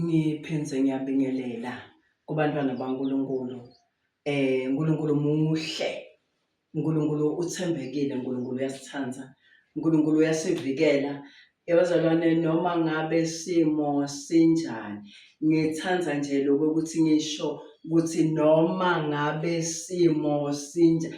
Ngiphindze ngiyabingelela kubantwana baNkulunkulu. Eh uNkulunkulu muhle. uNkulunkulu uthembekile, uNkulunkulu uyasithanda, uNkulunkulu uyasivikela. Yabazalwane noma ngabe simo sinjani, ngithanda nje lokho ukuthi ngisho ukuthi noma ngabe simo sinjani,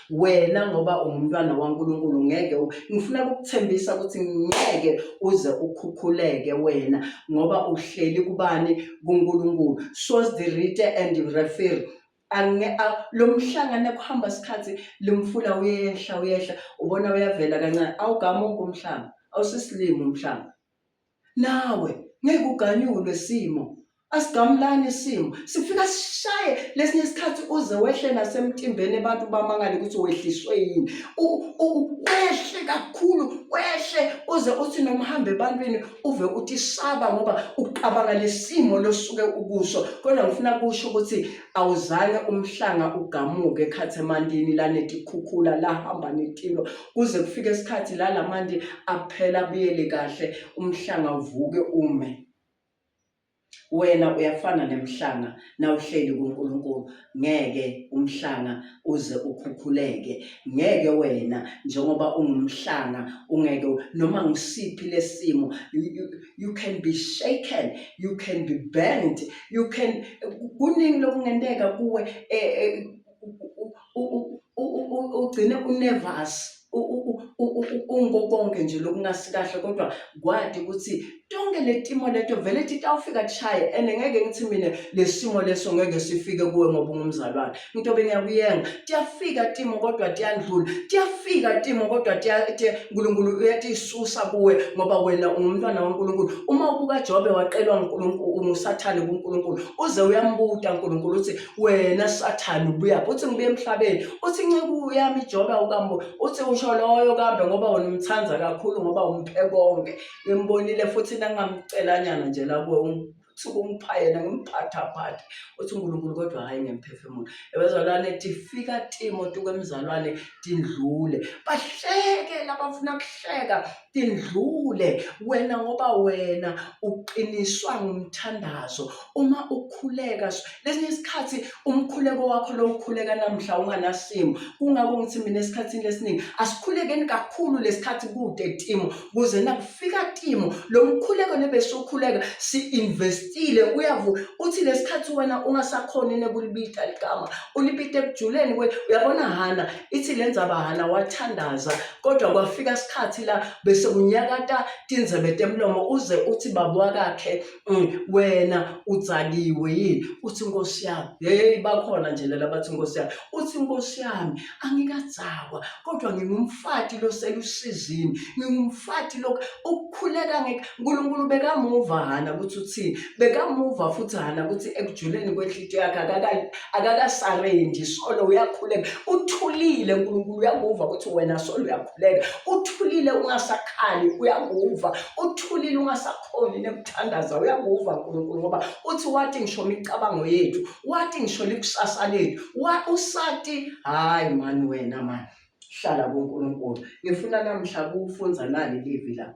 wena ngoba ungumntwana waNkulunkulu ngeke ngifuna ukukuthembisa ukuthi ngeke uze ukhukhuleke wena ngoba uhleli kubani kuNkulunkulu source the rite and refer lo mhlangano ekuhamba isikhathi lomfula uyehla uyehla ubona uyavela kancane awugamuki umhlanga awusisilimi umhlanga Nawe ngeke uganyulwe simo. Asigamulani isimo. Sifika sishaye lesinye isikhathi uze wehle nasemtimbeni abantu bamangale ukuthi wehliswe yini. Wehle kakhulu, wehle uze uthi noma uhamba ebantwini uve uthi saba ngoba ucabanga lesimo losuke ukuso. Kodwa ngifuna kusho ukuthi awuzange umhlanga ugamuke ekhathemandini lanetikhukhula lahamba netilo kuze kufike isikhathi la lamanti aphela abuyele kahle umhlanga uvuke ume wena uyafana nemhlanga nawuhleli kuNkulunkulu ngeke umhlanga uze ukhukhuleke ngeke wena njengoba ungumhlanga ungeke noma ngisiphi lesimo you can be shaken you can be bent you can kuningi lokungenteka kuwe eh, eh, ugcine unervous ungo konke nje lokungasi kahle kodwa kwadi ukuthi tonke le timo leto vele thi tawufika tishaye and ngeke ngithi mina lesimo leso ngeke sifike kuwe ngoba ungumzalwane into bengiyakuyenga tiyafika timo kodwa tiyandlula tiyafika timo kodwa uNkulunkulu uyatisusa kuwe ngoba wena ungumntwana kaNkulunkulu uma ubuka Jobe waqelwa uNkulunkulu usathane kuNkulunkulu uze uyambuta uNkulunkulu uthi wena sathane ubuyaphi uthi ngibuye emhlabeni uthi inceku yami ijobe awukambo uthi usho loyo kambe ngoba wena umthanda kakhulu ngoba umphe konke ngimbonile futhi nangamcelanyana nje lakuwe uthi kumpha yena ngimphathaphathe uthi unkulunkulu kodwa hhayi ngemphefumulo ebezalwane tifika timo tukwemzalwane tindlule bahleke labafuna kuhleka indlule wena ngoba wena uqiniswa ngumthandazo uma ukhuleka lesinye isikhathi umkhuleko wakho lo ukhuleka namhla unganasimo kungako ngithi mina esikhathini lesiningi asikhulekeni kakhulu lesikhathi kude timo kuze nakufika timo lo mkhuleko nebesokhuleka si-investile uyavu uthi lesikhathi wena ungasakhoni nekulibita ligama ulibita ekujuleni uyabona hana ithi le nzabahala wathandaza kodwa kwafika isikhathi la bese kunyakata tinzebe temlomo uze uthi baba wakakhe mm, wena udzakiwe yini uthi nkosi yami hey bakhona nje lela bathi nkosi yami uthi nkosi yami angikadzakwa kodwa ngingumfati loselusizini ngingumfati lokhu ukukhuleka ngeke uNkulunkulu bekamuva hana ukuthi uthini bekamuva futhi hana ukuthi ekujuleni kwenhlito yakhe akakasarendi solo uyakhuleka uthulile uNkulunkulu uyakuva ukuthi wena solo uyakhuleka uthulile ungasakhali uyakuva uthulile ungasakhoni nekuthandaza uyakuva uNkulunkulu ngoba uthi wathi ngisho imicabango yethu wathi ngisho likusasa lethu wa usati hayi mani wena mani hlala kuNkulunkulu ngifuna namhla kufunza nali livi la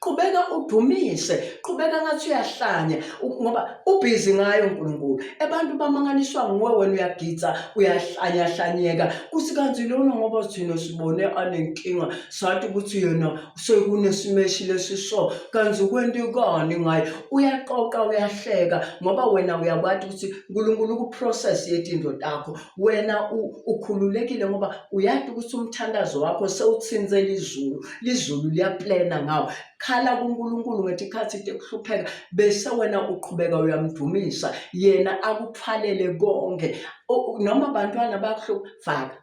qhubeka udumise qhubeka ngathi uyahlanya ngoba ubhizi ngayo uNkulunkulu abantu bamangaliswa nguwe wena uyagidza uyahlanya hlanyeka kuthi kanti lona ngoba thina sibone anenkinga sathi ukuthi yena sekunesimeshile lesiso kanti ukwenta ikani ngaye uyaqoqa uyahleka ngoba wena uyakwazi ukuthi uNkulunkulu ukuprocess yetinto takho wena ukhululekile ngoba uyazi ukuthi umthandazo wakho sewuthinzela izulu lizulu liyaplena ngawo khala kuNkulunkulu ngethi ikhathi into ekuhlupheka bese wena uqhubeka uyamdumisa yena akuthwalele konke noma abantwana bakuhlupha faka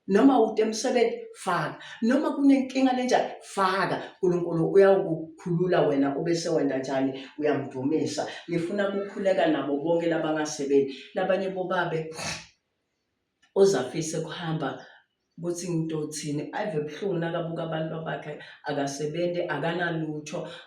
noma ude emsebenzi faka noma kunenkinga lenjani faka uNkulunkulu uyawukukhulula wena ube sewenda njani uyamdumisa ngifuna ukukhuleka nabo bonke labangasebenzi labanye bobabe ozafise kuhamba ukuthi ngidothini ave buhlungu nakabuka abantu bakhe akasebenzi akanalutho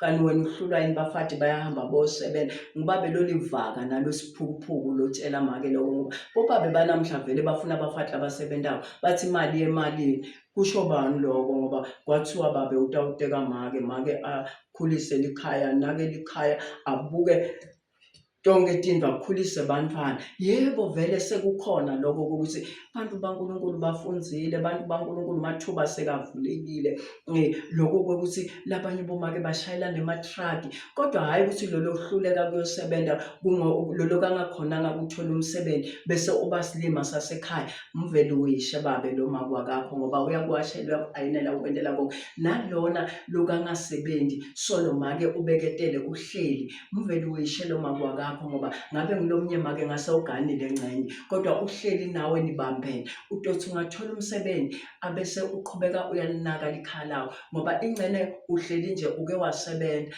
kanti wena uhlulwa yini bafati bayahamba bosebenza ngubabe lolivaka nalo siphukuphuku lotshela make loko ngoba bobabe banamhla vele bafuna abafati abasebentako bathi imali yemalini kusho bani loko ngoba kwathiwa babe utawuteka make make akhulise likhaya nake likhaya abuke tonke tinto akhulise bantwana yebo vele sekukhona lokho ukuthi abantu baNkulunkulu bafunzile abantu baNkulunkulu mathuba sekavulekile eh, lokho kokuthi labanye bomake bashayela nematruck kodwa hayi ukuthi lolo hluleka kuyosebenza lolo kangakhonanga ukuthola umsebenzi bese uba silima sasekhaya mvele uyishe babe lo makwakakho ngoba uyakwashelwa ayinela ukwentela konke nalona lokangasebenzi solo make ubeketele uhleli Ngivele uyishele uma kwakakho ngoba ngabe ngilomnye make ngase uganile ngcenye kodwa uhleli nawe nibambene utothi ungathola umsebenzi abese uqhubeka uyalinaka likhaya lawo ngoba ingcene uhleli nje uke wasebenza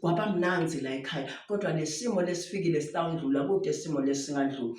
kwaba mnanzi la ekhaya kodwa lesimo lesifikile sitawundlula kude isimo lesingandlula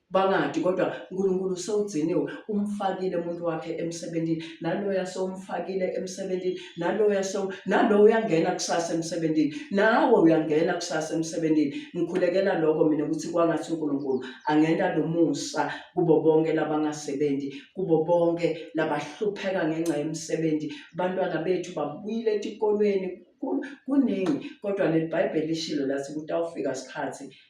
Bangadi kodwa uNkulunkulu sewugciniwe umfakile umuntu wakhe emsebenzini naloya sewumfakile emsebenzini naloya sew nalo uyangena kusasa emsebenzini nawe uyangena kusasa emsebenzini ngikhulekela lokho mina ukuthi kwangathi uNkulunkulu angena lomusa kubo bonke labangasebenzi kubo bonke labahlupheka ngenxa yemisebenzi bantwana bethu babuyile etikolweni kuningi kodwa leli bhayibheli lishilo lathi kutawufika isikhathi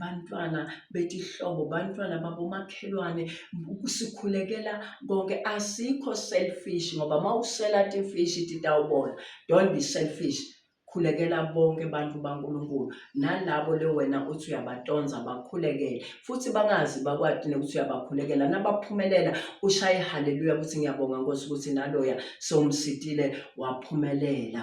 bantwana betihlobo bantwana babomakhelwane sikhulekela konke asikho selfish ngoba uma usela tifish titawubona don't be selfish khulekela bonke abantu baNkulunkulu nalabo le wena uthi uyabatonza bakhulekele futhi bangazi bakwati nokuthi uyabakhulekela nabaphumelela ushaye haleluya ukuthi ngiyabonga Nkosi ukuthi naloya sewumsitile waphumelela